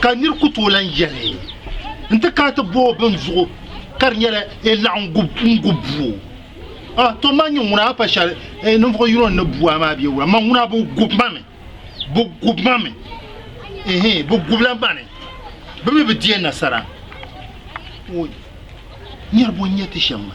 Ka nir ku tooi lan yɛli, N ti kana ti booi bini zuɣu ka di nyɛla e laɣim n gu bua? A tɔ ma nyɛ ŋuna a pa shɛli e ninvuɣ yino n ni bu a maa bee wula? Ma ŋuna bɛ gu ma mi, bɛ gu ma mi, ɛɛn, bɛ gubila ma ni bɛ mi bi di a nasara. O niriba n-nyɛ ti shɛm maa.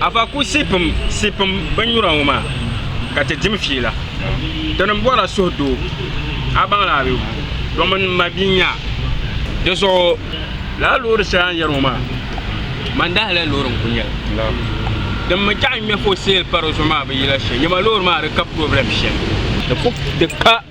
Afa ku sipim binnyura ŋɔ maa ka ti dim fiila. Dini m bɔrila suhu doo a baŋla a bee? Domin m ma bia n-nyɛ a. Di zuɣu lala loori shɛli a ni yɛri ŋɔ maa mandahili loori n-kuli nyɛ li. Din mi chaɣi ŋme for sale pa di zuɣu maa bi yila shɛm. Nyama loori maa di ka problem shɛm.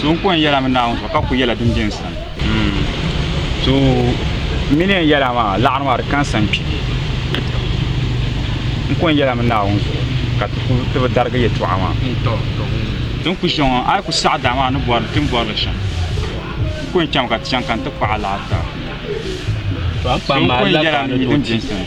So n kɔŋ yɛla mi Naawuni zuɣu ka ku yɛla din bɛ n sani. So n mini n yɛla maa laɣiri maa di kansa n kpi. N kɔŋ yɛla mi Naawuni zuɣu ka ti bi darigi yɛtɔɣa maa. Ti ni ku chaŋ ŋɔ, a yi ku saɣi daa maa a ni bɔri li, ti ni bɔri li shɛm. N kɔŋ chaŋmi ka ti chaŋ ka ni ti kpaɣi alahidaa. So n kɔŋ yɛla mi din bɛ n sani.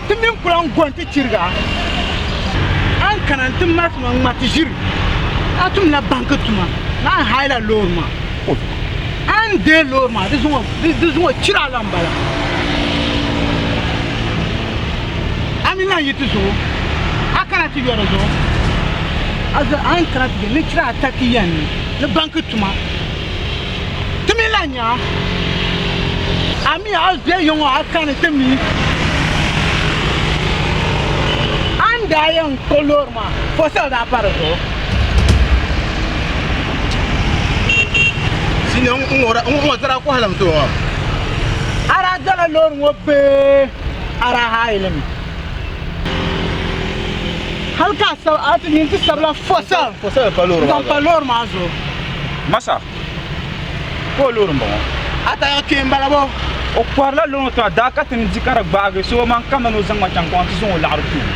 Ti mini kula n-go nti chiriga. A ni kana nti mali tuma ŋma ti ʒiri. A tumla banki tuma ni a ni haila loori maa. A ni deei loori maa di zuŋɔ o chiri a la m-bala. A mi lan yi ti zuɣu a kana ti yo di zuɣu. A ni kana ti je ni chiri a takiya ni banki tuma. Ti mi lahi nya a mi a be yiŋɔ a kani ti mi a ni daa yɛn kpuɣi loori maa fosal daa pa di zuɣu. Di ni ŋɔ zara kɔhilim so ŋɔ. A daa dɔla loori ŋɔ bee a daa haai li mi? Hali ka a ti nyin ti sabila fosal n zaŋ pa loori maa zuɣu. Masa ka o loori m-bɔŋɔ. A taya kpe m-bala bo? O kɔhirila loŋ tiŋa daa ka ti ni di ka di gbaagi so omaŋ ka mani o zaŋ ma chaŋ kpaŋa ti zaŋ o laɣiri tuum.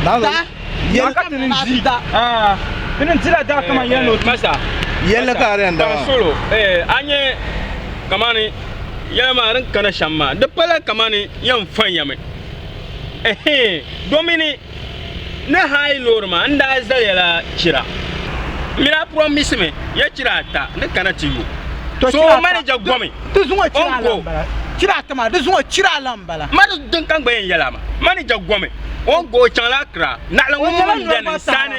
Daa ka ti ni di, aa ti ni dila daa ka mani yɛli ni o ti. Masa, yɛlli ka a di yɛn daa maa. Solo, ee a nya ka mani yɛli maa din kana shɛm maa di pala ka mani yɛn fɔn ya mi? Ɛhɛɛn domini. Ni haayi loori maa, n daa zali ya la chira. M mi daa promise mi ya chira ata ni kana ti yo. So manager gomi o ni go. Chira ata maa di zuŋ o chira lan m-bala. Ma di din ka n gba yɛn yɛli a maa. Manager gomi o ni go o chaŋ la Accra. Naɣila ŋun mini m beni n sani.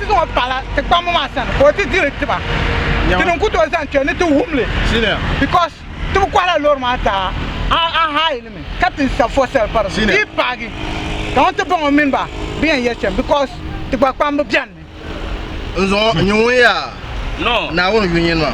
Tiŋ ŋɔ paɣila ti kpamba maa sani ka o ti diri tiba. Ti ni n-ku tooi zaŋ kpe ni ti wum li because ti bi kɔhila loori maa zaa. A a hire li mi ka ti n-sa for sale pari di dii paagi ka ŋun ti baŋ o mini ba bi yɛn yɛli shɛm because ti gba kpamba beni mi. N zuŋɔ, n-nyɛ ŋun yaa Naawuni yunyini maa.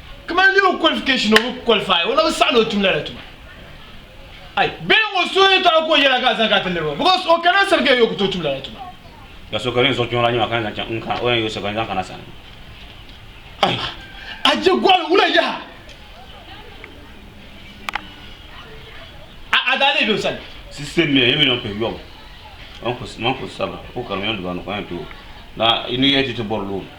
Kamani legal qualification o bi qualify o na bi saɣi ni o tum lala tuma ai bee ŋɔ so ni taɣi ka o yɛla ka a zaŋ ka ti niriba because o kana sani ka yɛ o ku tooi tum lala tuma Ka so ka din zuɣu kpiɔŋ la nyɛ ma ka ni zaŋ chaŋ n kana o yɛn yɛ o sani ka ni zaŋ kana sani. Ai a je gɔɣili wula yaha a a daa leei be o sani. Sise mia ye mi nɔn pɛ yɔbu man ku sabira o kari mi yɔn duba ni kɔn yɛn too na ni yɛ ti ti bɔri looni.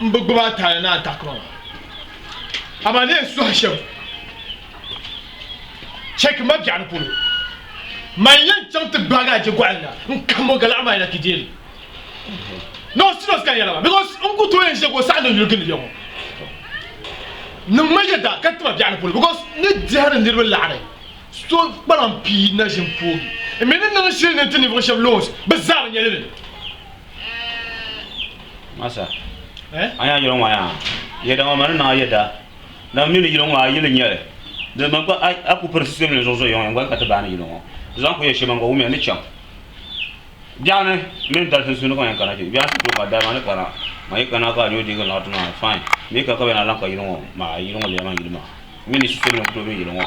n bi gbubi a taali ni a takuma maa. Amaa ni yi suhi shɛm chɛ ki ma biɛɣuni polo, man yɛn chaŋ ti gbaagi a jɛgɔhili na n-kahim o galaɣu maa yɛla ki deei li. Ni o siri o sikali yɛla maa, bikos n ku tooi yɛn ʒiya ka o saɣindi yuli gindi ya ŋɔ. Niŋm ma yɛda ka ti ma biɛɣuni polo, bikos n ni dihi ni niriba laɣiri so kpalam pii naʒim poogi. N mi ni niŋ shili ni n-ti ninvuɣ shɛb loons, bɛ zaa bi nya lili. Masa, a yaa yɛlɔŋɔ yaa, yɛdaŋɔ ma ni niŋ a yɛda, dama mi ni yɛlɔŋɔ a yili nyɛli, di man ka a ku piri sisɛm ni zuɣu zo yɔŋ yɛŋgoli ka ti baani yɛlɔŋɔ, di zaŋ ku yɛ shɛm man ka wumiya ni chaŋ biɛɣu ni mini dari sunsuuni ka ma yɛn kana kpe, biɛɣu ni ti tooi ka dari ma ni kana, ma yi kana ka a ni o deei gili laɣiri ti maa, fine, mi ka ka bɛ na lan ka yɛlɔŋɔ maa, yɛlɔŋɔ lɛya man yili maa, mi ni sisɛm ni ku tooi niŋ yɛlɔŋɔ.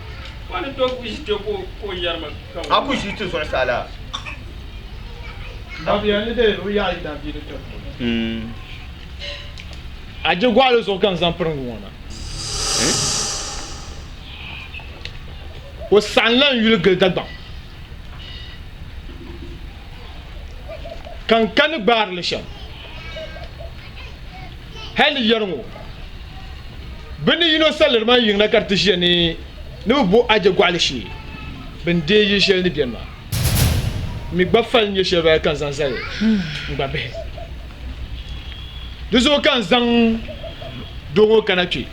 A ku ʒi ti zuɣusaa laa? A je gɔɣili zuɣu ka n zaŋ piriŋgi ŋɔ na. O saɣim la n yuli gili Dagbaŋ ka n kani gbaari li shɛm. hali yɛri ŋɔ, bɛ ni yino saliri maa yiŋ na ka di ti ʒiya ni ni bɛ bo Aje gɔɣili shee bɛ ni deei yili shɛli ni beni maa. N mi gba fali n-nyɛ shɛli bala ka n zaŋ zali n gba bihi. Di zuɣu ka n zaŋ doo ŋɔ kana kpe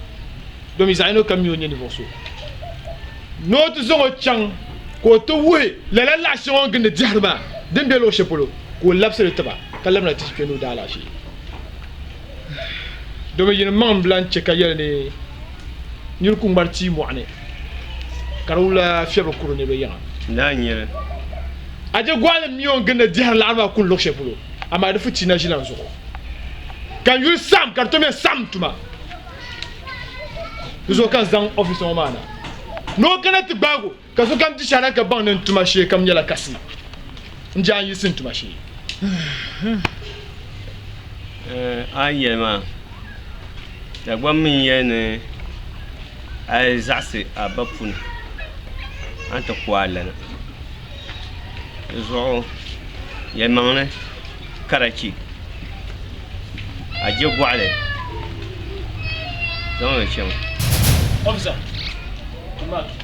domi zaɣ yino kam mi o nyɛ ninvuɣ so ni o ti zaŋ o chaŋ ka o ti wuhi lala laɣ shɛŋa o ni gindi dɛhiri maa din be luɣ shɛli polo ka o labisi li tiba ka labina ti yi kpe ni o daalaɣ shee. Domin yinim maŋ m-bilan chɛ ka yɛli ni nir ku ŋmari tia mɔɣu ni, ka di wula fiɛb bi kuri ni bɛ yiŋa. Naa n-nyɛ li. A je gɔɣilim mi o ni gindi dihiri laɣiri maa kul luɣ shɛli polo, amaa di futi na ʒilan zuɣu. Ka n yuli saɣim, ka di tom ya saɣim tuma. Di zuɣu ka n zaŋ ɔfisa ŋɔ maa na ni o kana ti gbaag o. Ka sokam di shana ka baŋ ni n tuma shee kam nyɛla kasi n-je a ni yiɣisi n tuma shee. A ni yɛli maa, Dagbam mi n-yɛli ni a yi zaɣisi a ba puni, a ni ti ku a lana. Di zuɣu yɛlimaŋli karachi a je gɔɣili zaŋ li chaŋ. Officer, tuma.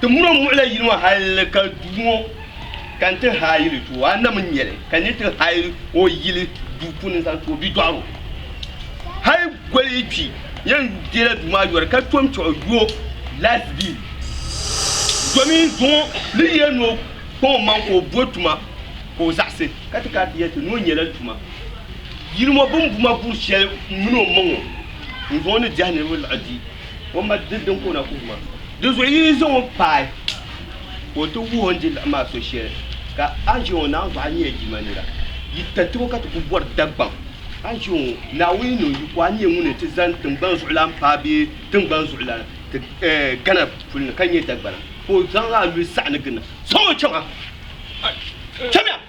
Ti muni o muɣila yili ŋɔ hal ka duu ŋɔ ka n-ti haayili ti o. A nam n-nyɛ li, ka n ni ti haayili o yili duu puuni n-zaŋ ti o bidɔɣiri o. Hal goli yi kpi, yɛn deela duu maa yɔri ka tom kpɛɣu yo laati biili. Domin zuŋɔ ni yɛn ni o kpaŋ omaŋ ka o bo tuma ka o zaɣisi, ka ti kana ti yɛli ti ni o nyɛla tuma. Yili ŋɔ bimbuma buri shɛli m-mini omaŋ o, n-zuŋɔ ni diɛhi niriba laɣi di. O ma di din ka o na kuhi ma. Di zuɣu yi yi zaŋ o paai ka o ti wuhi o ni di laɣim maa so shɛli, ka a ʒe ŋɔ Naawuni zuɣu a nyɛla Jilima nira. Yi tariti ŋɔ ka ti kul bɔri Dagbaŋ, a ʒe ŋɔ Naawuni ni o yiko a nyɛ ŋuni n-ti zani tiŋgbani zuɣulan paai bee tiŋgbani zuɣulan ti Ghana puli ni ka nyɛ Dagbana ka o zaŋ a luhi saɣi ni gindi. Zaŋ o chaŋ ha! Chamiya!